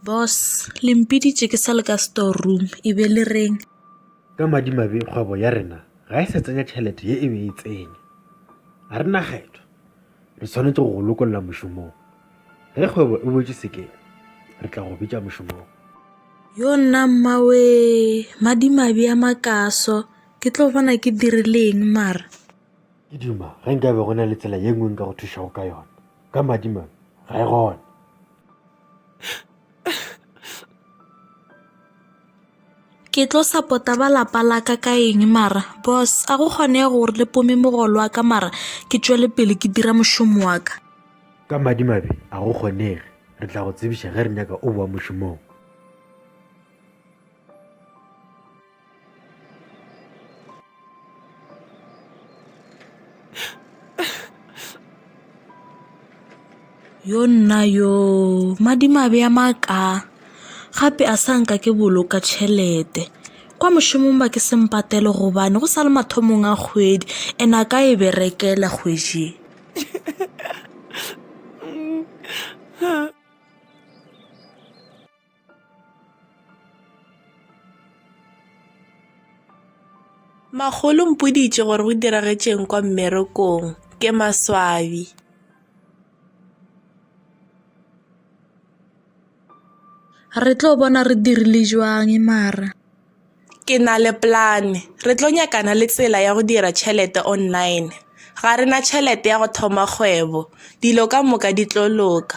Boss, Le mpiditše ke sa le ka store room, e be le reng? Ka madimabe kgwebo ya rena ga e sa tsenya tšhelete ye e be e tsenya. Ga re na kgetho, re tshwanetse go go lokolla mošomong. Ge kgwebo e boetše sekeng, re tla go bitša mošomong. Yo nna mmawee, madimabe a makaso, ke tlo bona ke dirileng mara? Ke duma ge nkabe go na le tsela ye nngwe nka go thušago ka yona. Ka madimabe, ga e gona. Ke tlo sapota ba lapa la ka ka eng mara? Boss, a go kgonege gore le pome mogolo wa ka mara ke tšwele pele ke dira mošomo wa ka? Ka madimabe, a go kgonege. Re tla go tsebiša ge re nyaka o boa mošomong. Yo nna yo madimabe a maka gape a sa nka ke boloka tšhelete kwa mošomong ba ke se mpatele gobane go sa le mathomong a kgwedi and a ka e berekela kgwedi Makgolo o mpoditše gore go diragetšeng kwa mmerekong. Ke maswabi. Re tlo bona re dirile jwang mara. Ke na le polane. Re tlo nyakana le tsela ya go dira tšhelete online. Ga re na tšhelete ya go thoma kgwebo. Dilo ka moka di tlo loka.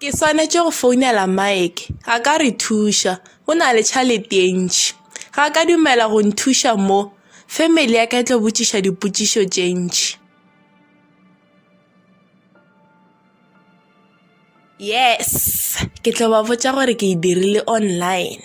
Ke swanetše go founela Mike a ka re thuša o na le tšhalete ye ntši ga ka dumela go nthuša mo family ya ka e tlo botšiša dipotšišo tše ntši. Yes ke tlo ba botša gore ke e dirile online.